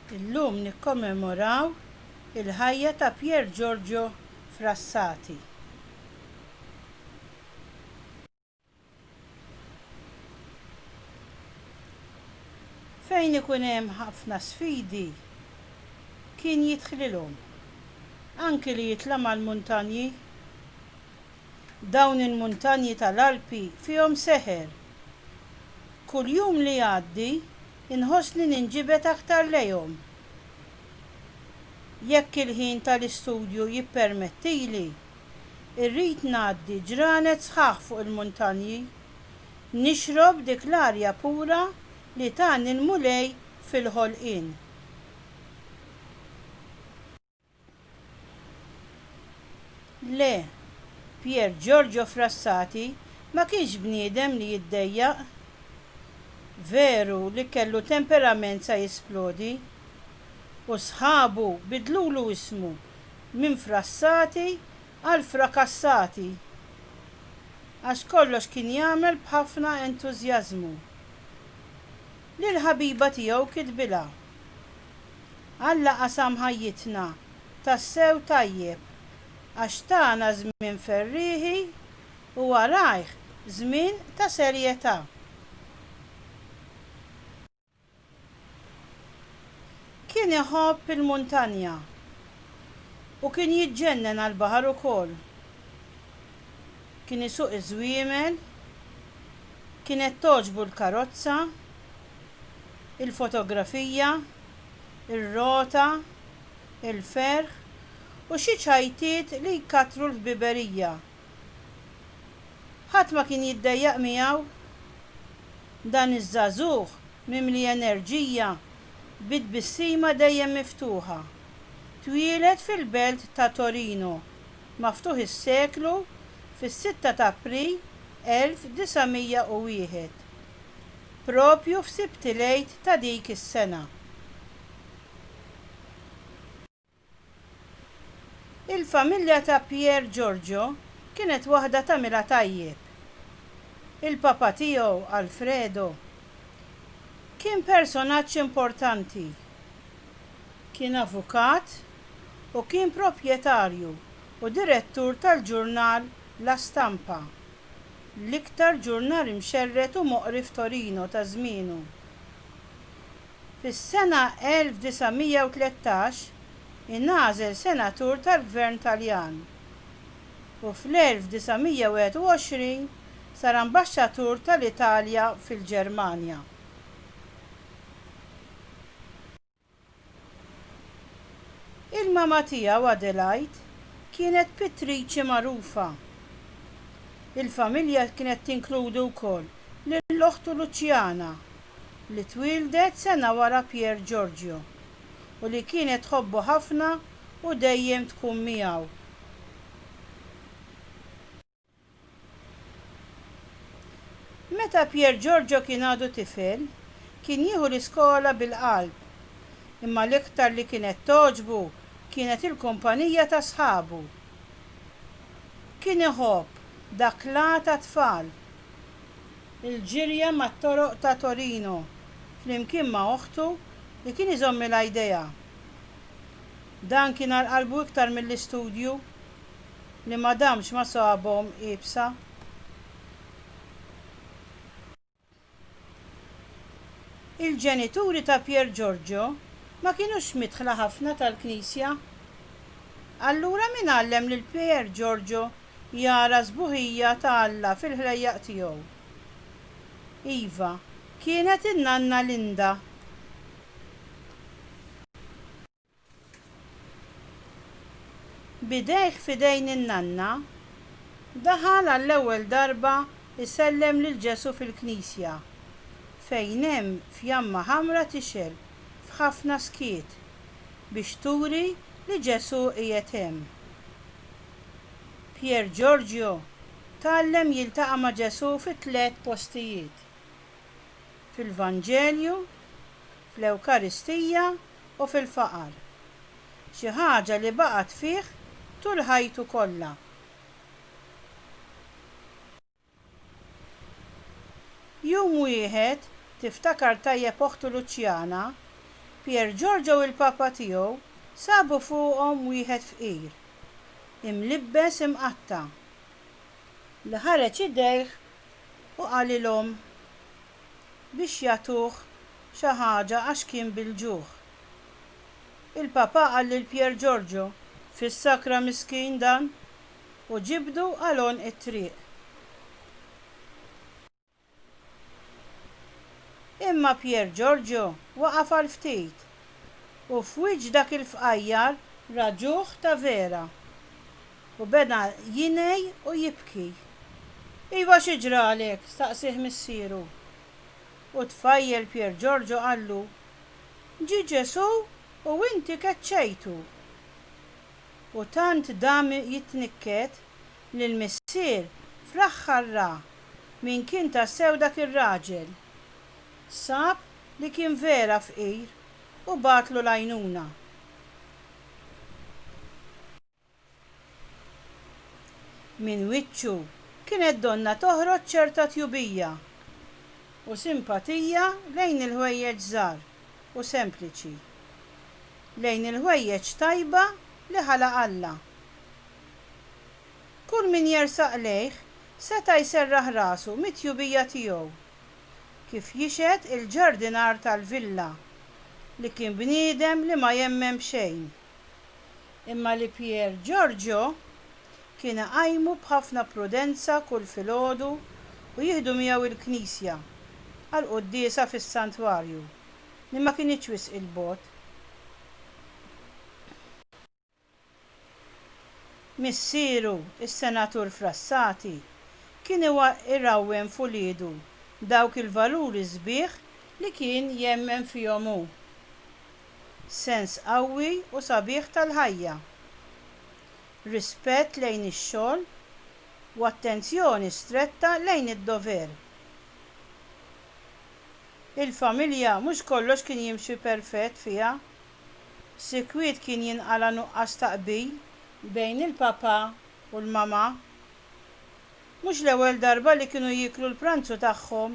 Illum nikkommemoraw il-ħajja ta' Pier Giorgio Frassati. Fejn ikun hemm ħafna sfidi kien jidħlilhom, anki li jitla' mal-muntanji. Dawn il-muntanji tal-Alpi fihom seħer. Kull jum li jgħaddi nħossni ninġibed aktar lejhom. Jekk il-ħin tal-istudju jippermettili, irrid ngħaddi ġranet sħaħ fuq il-muntanji. Nixrob dik l-arja pura li tani l-Mulej fil-ħolqien. Le, Pier Giorgio Frassati ma kienx bniedem li jiddejjaq. Veru li kellu temperament sa jisplodi, u sħabu bidlulu ismu minn Frassati għal Frakassati, għax kollox kien jagħmel b'ħafna entużjażmu. Lill-ħabiba tiegħu kitbilha Alla qasam ħajjitna tassew tajjeb għax tana żmien ferrieħi u warajh żmien ta' serjetà. Kien iħobb il-muntanja u kien jiġġennen għall-baħar ukoll. Kien isuq iż-żwiemel, kienet togħġbu l-karozza, il-fotografija, ir-rota, il-ferħ u xi ċajtiet li jkattru l-ħbiberija. Ħadd ma kien jiddejjaq miegħu. Dan iż-żagħżugħ mimli enerġija bi tbissima dejjem miftuħa, twieled fil-belt ta' Torino ma' ftuħ is-seklu fis-sitta ta' April 1901. propju f'Sibt il-Għid ta' dik is-sena. Il-familja ta' Pier Giorgio kienet waħda tagħmilha tajjeb. Il-papa tiegħu, Alfredo, kien personaġġ importanti. Kien avukat u kien propjetarju u direttur tal-ġurnal La Stampa. l-iktar ġurnal imxerred u moqri f'Torino ta' żmienu. Fis-sena 1913 ingħażel senatur tal-gvern Taljan, u fl-1921 sar ambaxxatur tal-Italja fil-Ġermanja. Il-mama tiegħu Adelaide kienet pittriċi magħrufa. Il-familja kienet tinkludi wkoll lil oħtu Luciana, li twieldet sena wara Pier Giorgio, u li kienet tħobbu ħafna u dejjem tkun miegħu. Meta Pier Giorgio kien għadu tifel, kien jieħu l-iskola bil-qalb. Imma l-iktar li kienet togħġbu kienet il-kumpanija ta' sħabu. Kien iħobb dak l-għa ta' tfal, il-ġirja mat-toroq ta' Torino flimkien ma' oħtu li kien iżommilha jdejha. Dan kien għal qalbu iktar mill-istudju li ma damx ma sabhom iebsa. Il-ġenituri ta' Pier Giorgio ma kinux midħla ħafna tal-Knisja. Allura min għallem lil Pier Giorgio jara s-sbuħija ta' Alla fil-ħlejjaq tiegħu? Iva, kienet in-nanna Linda. B'idejh f'idejn in-nanna, daħal għall-ewwel darba jsellem lil Ġesù fil-knisja, fejn hemm fjamma ħamra tixgħel f'ħafna skiet, biex turi li Ġesù qiegħed hemm. Pier Giorgio tgħallem jiltaqa' ma' Ġesù fi tliet postijiet, fil-Vanġelju, fl-Ewkaristija u fil-faqar, xi ħaġa li baqgħet fih tul ħajtu kollha. Jum wieħed tiftakar tajjeb oħtu Luċjana, Pier Giorgio u l-Papa tiegħu sabu fuqhom wieħed fqir, imlibbes imqatta', li ħareġ idejh u qalilhom, biex jagħtuh xi ħaġa għax kien bil-ġuħ. Il-Papa qal lil Pier Giorgio, Fissakra miskin dan u ġibdu għal għonq it-triq. Imma Pier Giorgio waqaf għal ftit u f'wiċċ dak il-fqajjar ra ġuħ ta' vera. U beda jingħi u jibki. Iva, xi ġralek? staqsieh missieru. U t-tfajjel Pier Giorgio qallu, Ġie Ġesù u inti keċċejtu! U tant dam jitnikket li l-missier fl-aħħar ra min kien tassew dak ir-raġel. Sab li kien vera fqir u bagħatlu l-għajnuna. Minn wiċċu kienet donnha toħroġ ċerta tjubija u simpatija lejn il-ħwejjeġ żgħar u sempliċi, lejn il-ħwejjeġ tajba li ħalaq Alla. Kull min jersaq lejh seta' jserraħ rasu mit-tjubija tiegħu, kif jixhed il-ġardinar tal-villa li kien bniedem li ma jemmen b'xejn. imma li Pier Giorgio kien iqajmu b'ħafna prudenza kull filgħodu u jieħdu miegħu l-knisja għall-quddiesa fis-santwarju li ma kinitx wisq 'il bogħod Missieru, is-Senatur Frassati, kien irawwem f'uliedu dawk il-valuri sbieħ li kien jemmen fihom hu. sens qawwi u sabiħ tal-ħajja, rispett lejn ix-xogħol u attenzjoni stretta lejn id-dover. Il-familja mhux kollox kien jimxi perfett fiha. Sikwit kien jinqala' nuqqas ta' qbil. Bejn il-papà u l-mamà. Mhux l-ewwel darba li kienu jieklu l-pranzu tagħhom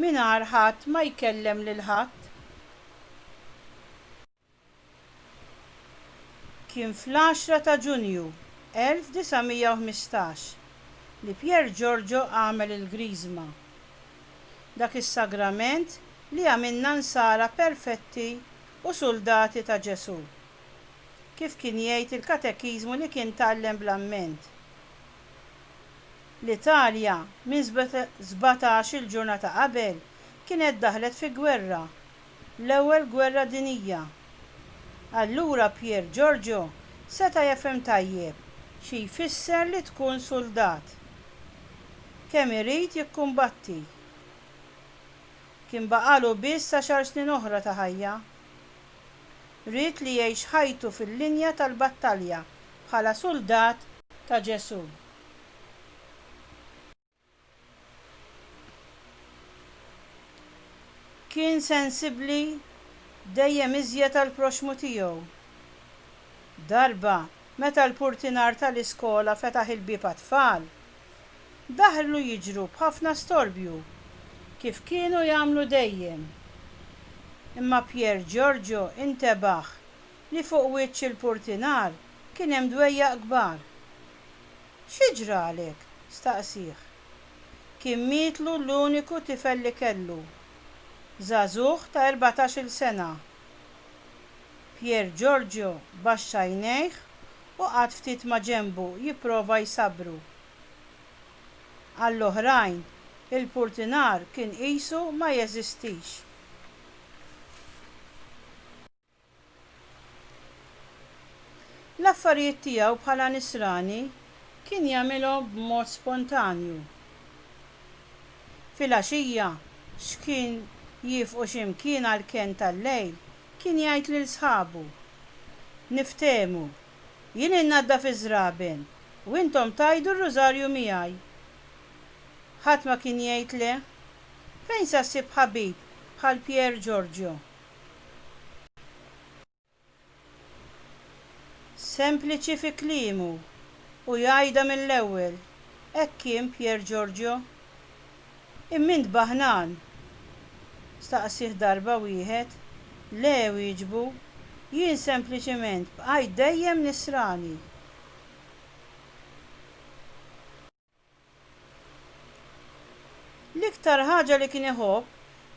mingħajr ħadd ma jkellem lil ħadd. Kien fl-għaxra ta' Ġunju 1915 li Pier Giorgio għamel il-Griżma, dak is-sagrament li jagħmilna Nsara perfetti u suldati ta' Ġesù, kif kien jgħid il-katekiżmu li kien tgħallem bl-amment. L-Italja, minn sbatax-il ġurnata qabel, kienet daħlet fi gwerra, l-Ewwel Gwerra Dinjija. Allura Pier Giorgio seta' jefhem tajjeb xi jfisser li tkun suldat. Kemm irid jikkumbatti? Kien baqgħalu biss għaxar snin oħra ta' ħajja. Ried li jgħix ħajtu fil-linja tal-battalja bħala suldat ta' Ġesù. Kien sensibbli dejjem iżjed għall-proxxmu tiegħu. Darba, meta l-purtinar tal-iskola fetaħ il-bieb għat-tfal, daħlu jiġru b'ħafna storbju, kif kienu jagħmlu dejjem. Imma Pier Giorgio intebaħ li fuq wiċċ il-purtinar kien hemm dwejjaq kbar. Xi ġralek? staqsieh. Kien mietlu l-uniku tifel li kellu, żagħżugħ ta' erbatax-il sena. Pier Giorgio baxxa għajnejh u qagħad ftit maġenbu jipprova jsabbru. Għall-oħrajn, il-purtinar kien qisu ma jeżistix. L-affarijiet tiegħu bħala nisrani kien jagħmilhom b'mod spontanju. Filgħaxija, x'kien jiefqu xi mkien għall-kenn tal-lejl, kien jgħid lil sħabu, Niftehmu, jien innaddaf iż-żraben u intom tgħidu r-Rużarju miegħi. Ħadd ma kien jgħid le. Fejn sa ssib ħabib bħal Pier Giorgio Sempliċi fi kliemu u jgħidha mill-ewwel, hekk kien Pier Giorgio. Imma int baħnan? staqsieh darba wieħed. Le, wieġbu, jien sempliċiment bqajt dejjem nisrani. L-iktar ħaġa li kien iħobb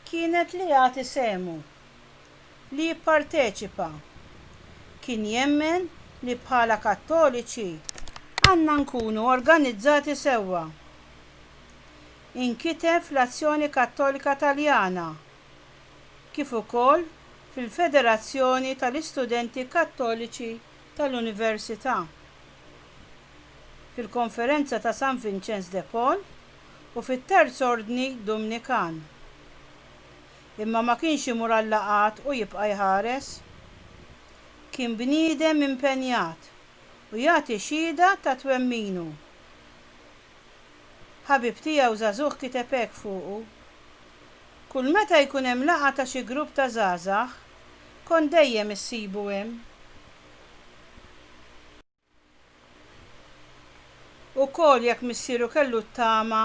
kienet li jagħti sehmu, li jipparteċipa. Kien jemmen li bħala Kattoliċi għandna nkunu organizzati sewwa. Inkiteb fl-Azzjoni Kattolika Taljana kif ukoll fil-Federazzjoni tal-Istudenti Kattoliċi tal-Università. fil-Konferenza ta' San Vinċenz de Paul u fit-Terz Ordni Dumnikan. Imma ma kienx imur għal-laqgħat u jibqa' jħares. Kien bniedem impenjat u jagħti xhieda ta' twemminu. Ħabib tiegħu żagħżugħ kiteb hekk fuqu, Kull meta jkun hemm laqgħa ta' xi grupp ta' żgħażagħ, kont dejjem issibu hemm. Ukoll jekk missieru kellu t-tama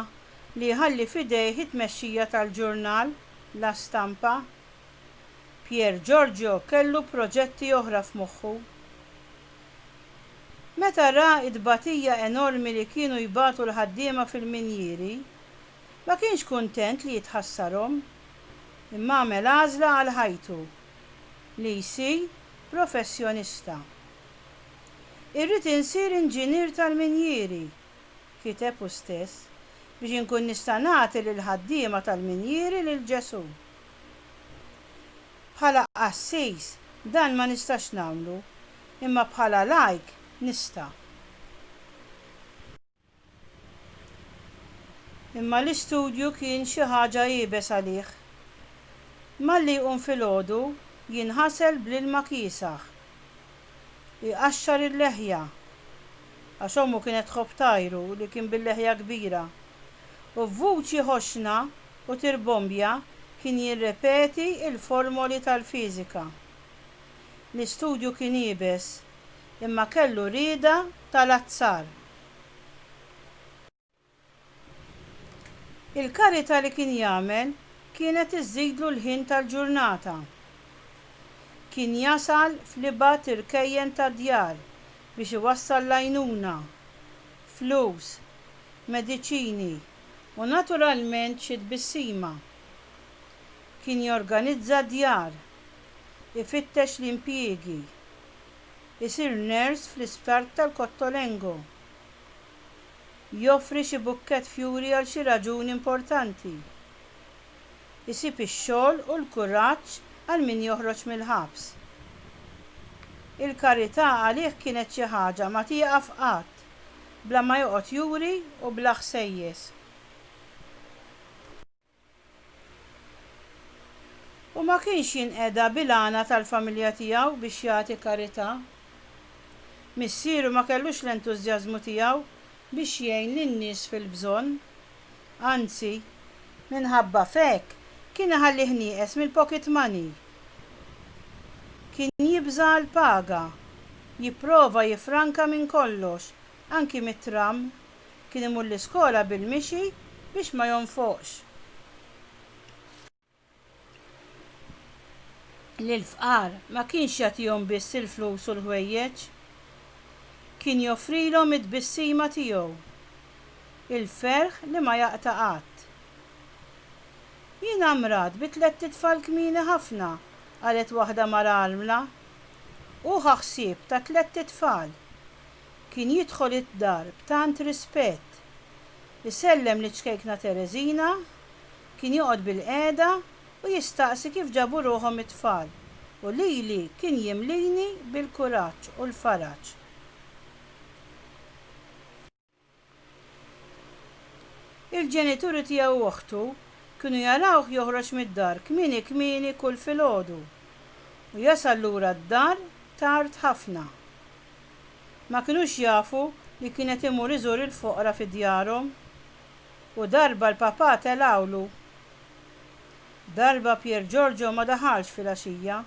li jħalli f'idejh it-tmexxija tal-ġurnal La Stampa, Pier Giorgio kellu proġetti oħra f'moħħu. Meta ra t-tbatija enormi li kienu jbatu l-ħaddiema fil-minjieri, ma kienx kuntent li jitħassarhom, imma għamel għażla għal ħajtu. li jsir professjonista. Irrid insir inġinier tal-minjieri, kiteb hu stess, biex inkun nista' nagħti lill-ħaddiema tal-minjieri lil Ġesù. Bħala qassis dan ma nistax nagħmlu, imma bħala lajk nista'. Imma l-istudju kien xi ħaġa iebes għalih. Malli jqum filgħodu jinħasel bl-ilma kiesaħ. Iqaxxar il-leħja, għax ommu kienet tħobb tgħajru li kien bil-leħja kbira, u b'vuċi ħoxna u tirbombja kien jirrepeti l-formoli tal-fiżika. L-istudju kien iebes, imma kellu rieda tal-azzar. Il-karità li kien jagħmel kienet iżżidlu l-ħin tal-ġurnata. Kien jasal fl-ibgħat irkejjen tad-djar biex iwassal l-għajnuna, flus, mediċini u naturalment xi tbissima. Kien jorganizza d-djar, ifittex l-impjiegi, Isir nurse fl-isptar tal-Cottolengo. Joffri xi bukkett fjuri għal xi raġuni importanti. Isib ix-xogħol u l-kuraġġ għal min joħroġ mill-ħabs. Il-karità għalih kienet xi ħaġa ma tieqaf qatt, bla ma joqgħod juri u bla ħsejjes. U ma kienx jinqeda bil-għana tal-familja tiegħu biex jagħti karità. Missieru ma kellux l-entużjażmu tiegħu biex jgħin lin-nies fil-bżonn. Anzi, minħabba f'hekk, kien iħallih nieqes mill-pocket money. Kien jibża' għall-paga, jipprova jiffranka minn kollox, anki mit-tramm. Kien imur l-iskola bil-mixi biex ma jonfoqx. Lill-fqar ma kienx jagħtihom biss il-flus u l-ħwejjeġ. Kien joffrilhom it-tbissima tiegħu. Il-ferħ li ma jaqta' qatt. Jiena mrat bi tlett itfal kmieni ħafna, qalet waħda mara armla. Hu ħa ħsieb ta' tlett itfal. Kien jidħol id-dar b'tant rispett, isellem liċ-ċkejkna Tereżina, kien joqgħod bilqiegħda u jistaqsi kif ġabu ruħhom it-tfal u lili kien jimlini bil-kuraġġ u l-faraġ. Il-ġenituri tiegħu u oħtu kienu jarawh joħroġ mid-dar kmieni kmieni kull filgħodu u jasal lura d-dar tard ħafna. Ma kinux jafu li kien qed imur iżur il-foqra fi djarhom. U darba l-papà telgħulu. Darba Piergiorgio ma daħalx filgħaxija.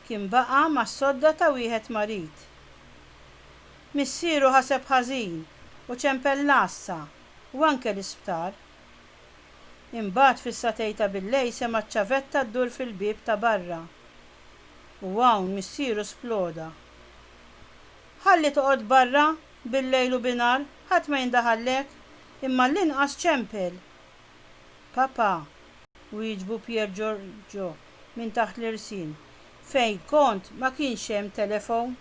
Kien baqa' mas-sodda ta' wieħed marid. Missieru ħaseb ħażin u ċempel l-għassa u anke l-isptar. Imbagħad fis-satej ta' billejl sema' ċ-ċavetta ddur fil-bieb ta' barra u hawn missieru sploda. Ħalli toqgħod barra billejl u binhar, ħadd ma jindaħallek, imma għall-inqas ċempel! Papà, wieġbu Pier Giorgio minn taħt l-irsien, fejn kont ma kienx hemm telefown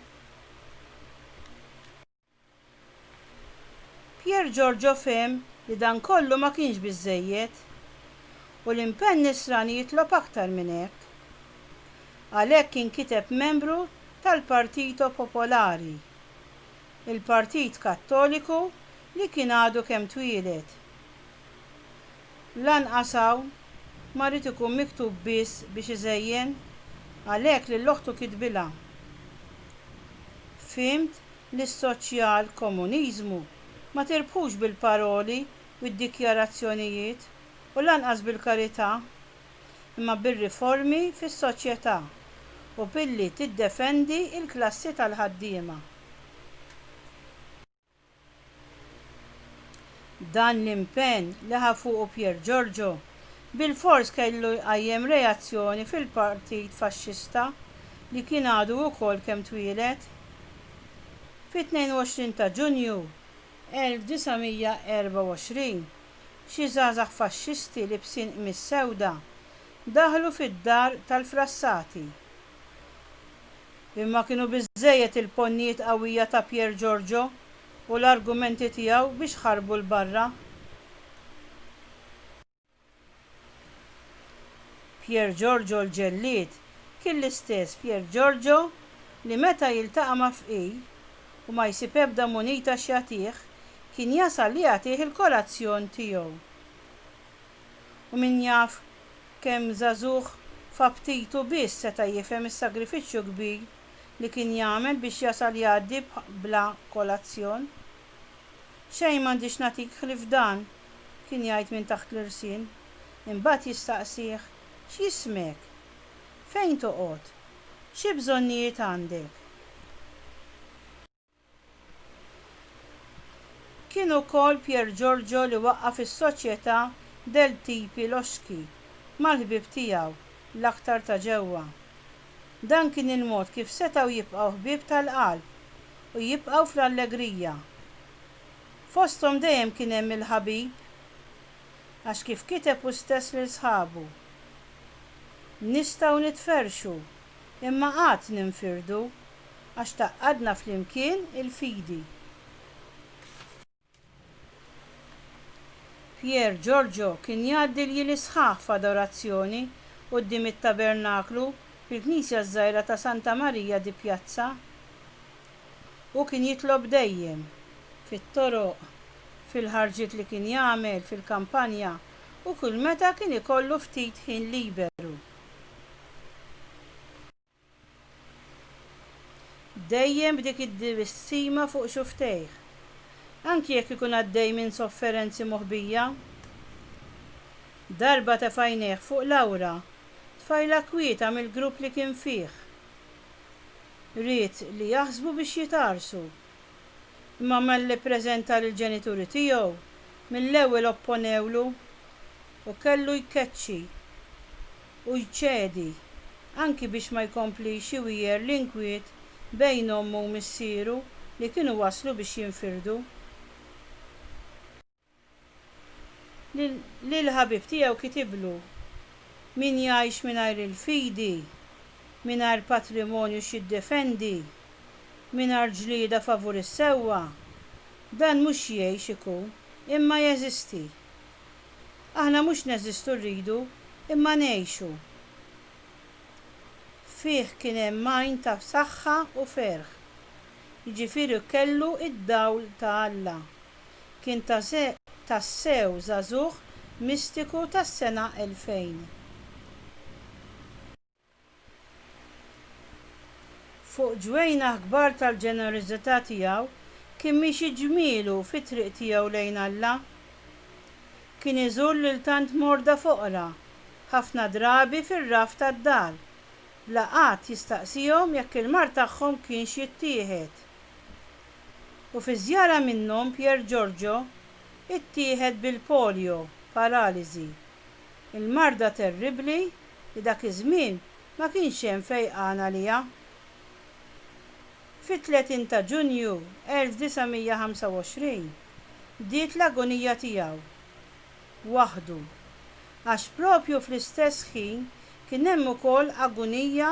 Pier Giorgio fehem li dan kollu ma kienx biżżejjed u l-impenn nisrani jitlob aktar minn hekk. Għalhekk kien kiteb membru tal-Partito Popolari, il-partit Kattoliku li kien għadu kemm twieled. Lanqas hawn ma ried ikun miktub biss biex iżejjen, għalhekk lil oħtu kitbilha, Fhimt li s-soċjal komuniżmu ma tirbħux bil-paroli u d-dikjarazzjonijiet u lanqas bil-karità, imma bir-riformi fis-soċjetà u billi tiddefendi l-klassi tal-ħaddiema. Dan l-impenn li ħa fuqu Pier Giorgio bilfors kellu jqajjem reazzjoni fil-Partit Faxxista li kien għadu wkoll kemm twieled. Fit-22 ta' Ġunju 1924, xi żgħażagħ Faxxisti libsin qmis sewda daħlu fid-dar tal-Frassati Imma kienu biżżejjed il-ponnijiet qawwija ta' Pier Giorgio u l-argumenti tiegħu biex ħarbu 'l barra. Pier Giorgio l-ġellied kien l-istess Pier Giorgio li meta jiltaqa' ma' fqir u ma jsib ebda munita x'jagħtih, kien jasal li jagħtih il-kolazzjon tiegħu. U min jaf kemm żagħżugħ f'aptitu biss seta' jifhem is-sagrifiċċju kbir li kien jagħmel biex jasal jgħaddi bla kolazzjon. Xejn m'għandix nagħtik ħlief dan, kien jgħid minn taħt l-irsien. Imbagħad jistaqsih, X'jismek? Fejn toqgħod? Xi bżonnijiet għandek? Kien ukoll Pier Giorgio li waqqaf is-Società del Tipi Loschi mal-ħbieb tiegħu l-aktar ta' ġewwa. Dan kien il-mod kif setgħu jibqgħu ħbieb tal-qalb u jibqgħu fl-allegrija. Fosthom dejjem kien hemm il-ħabib, għax kif kiteb hu stess lil sħabu, Nistgħu nitferrxu imma qatt ninfirdu, għax tgħaqqadna flimkien il-fidi. Pier Giorgio kien jgħaddi l-jili sħaħ f'adorazzjoni quddiem it-tabernaklu fil-knisja ż-żgħira ta' Santa Maria di Piazza. Hu kien jitlob dejjem, fit-toroq, fil-ħarġiet li kien jagħmel fil-kampanja u kull meta kien ikollu ftit ħin liberu. Dejjem b'dik id-dissima fuq xufftejh. Anki jekk ikun għaddej minn sofferenzi moħbija. Darba tef' għajnejh fuq Laura, tfajla kwieta mill-grupp li kien fih. Ried li jaħsbu biex jitgħarsu. Imma malli ppreżenta lill-ġenituri tiegħu, mill-ewwel opponewlu. u kellu jkeċċi u jċedi anki biex ma jkomplix iwiegħer l-inkwiet bejn ommu u missieru li kienu waslu biex jinfirdu. Lil ħabib tiegħu kitiblu, Min jgħix mingħajr il-fidi, mingħajr patrimonju x'jiddefendi, mingħajr ġlieda favur is-sewwa, dan mhux jgħix ikun, imma jeżisti. Aħna mhux neżistu rridu imma ngħixu. Fih kien hemm għajn ta' saħħa u ferħ. Jiġifieri kellu d-dawl ta' Alla. Kien tassew żagħżugħ mistiku tas-sena 2000. Fuq ġwejnaħ kbar tal-ġenerożità tiegħu kien miexi ġmielu fit-triq tiegħu lejn Alla. Kien iżur lil tant morda foqra, ħafna drabi fir-raff tad-dar, bla qatt jistaqsihom jekk il-mar tagħhom kienx jittieħed. U fi żjara minnhom Pier Giorgio ittieħed bil-polio, paraliżi, il-marda terribbli li dak iż-żmien ma kienx hemm fejqan għaliha. Fit-30 ta' Ġunju 1925 bdiet l-agonija tiegħu, waħdu, għax propju fl-istess ħin kien hemm ukoll agonija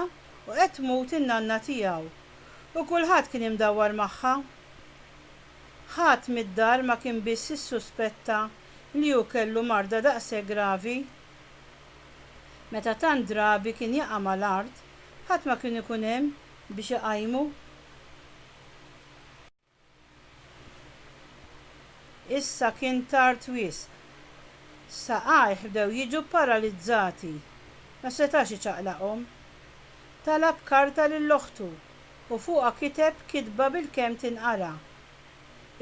u qed tmut in-nanna tiegħu u kulħadd kien imdawwar magħha. Ħadd mid-dar ma kien biss issuspetta li hu kellu marda daqshekk gravi. Meta tant drabi kien jaqa' mal-art, ħadd ma kien ikun hemm biex iqajmu. Issa kien tard wisq. Saqajh bdew jiġu pparalizzati. Ma setax iċaqlaqhom. Talab karta lil oħtu u fuqha kiteb kitba bilkemm tinqara,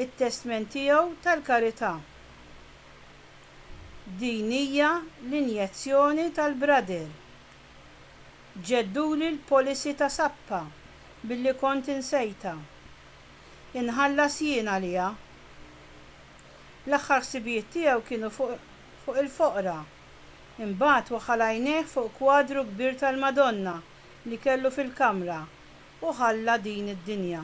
it-testment tiegħu tal-karità. Din hija l-injezzjoni tal-Brother. Ġedduli l-policy ta' sappa billi kont insejtha. Inħallas jien għaliha. L-aħħar ħsibijiet tiegħu kienu fuq il-foqra. Imbagħad waħal għajnejh fuq kwadru kbir tal-Madonna li kellu fil-kamra u ħalla din id-dinja.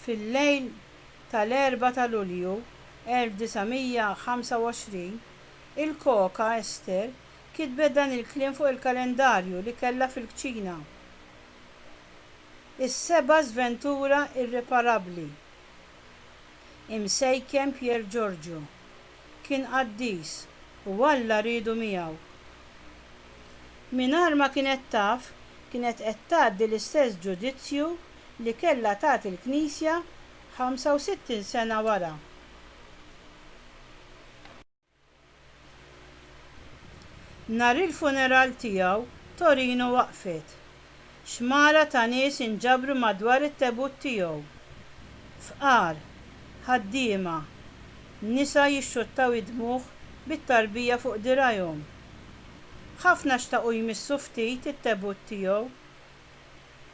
Fil-lejl tal-Erbgħa ta' Lulju 1925, il-koka Esther kitbet dan il-kliem fuq il-kalendarju li kellha fil-kċina, Is-seba' żventura irriparabbli. imsejken Pier Giorgio. Kien qaddis u Alla riedu miegħu. Mingħajr ma kienet taf, kienet qed tgħaddi l-istess ġudizzju li kellha tagħti l-Knisja 65 sena wara. Nhar il-funeral tiegħu, Torino waqfet. Xmara ta' nies inġabru madwar it-tebut tiegħu. Fqar, ħaddiema, nisa jixxuttaw id-dmugħ bit-tarbija fuq dirgħajhom. Ħafna xtaqu jmissu ftit it-tebut tiegħu.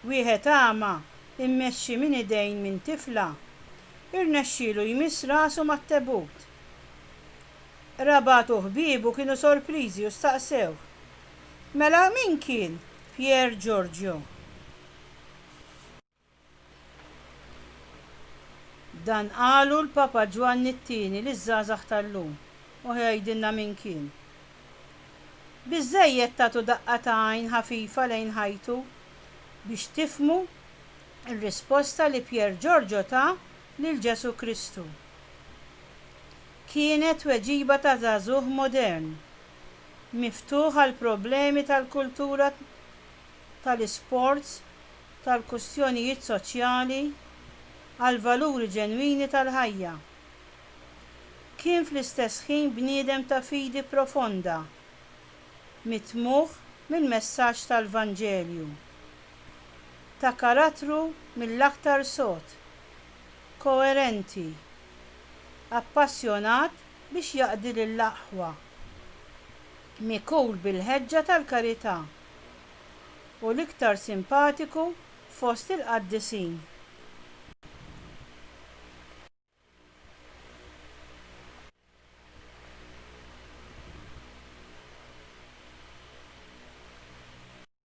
Wieħed agħma, immexxi minn idejn minn tifla, irnexxielu jmiss rasu mat-tebut. Rabat u ħbiebu kienu sorpriżi u staqsewh, Mela min kien Pier Giorgio? Dan qalu l-Papa Ġwanni t-Tieni liż-żgħażagħ tal-lum, u ħa jgħidilna min kien. Biżżejjed tagħtu daqqa ta' għajn ħafifa lejn ħajtu biex tifhmu r-risposta li Pier Giorgio ta lil Ġesù Kristu. kienet tweġiba ta' żagħżugħ modern, miftuħ għall-problemi tal-kultura, tal-isports, tal-kustjonijiet soċjali, għall-valuri ġenwini tal-ħajja. Kien fl-istess ħin bniedem ta' fidi profonda, mitmugħ mill-messaġġ tal-Vanġelju, ta' karattru mill-aktar sod, koerenti, appassjonat biex jaqdi lill-aħwa, mikul bil-ħeġġa tal-karità, u l-iktar simpatiku fost il-qaddisin.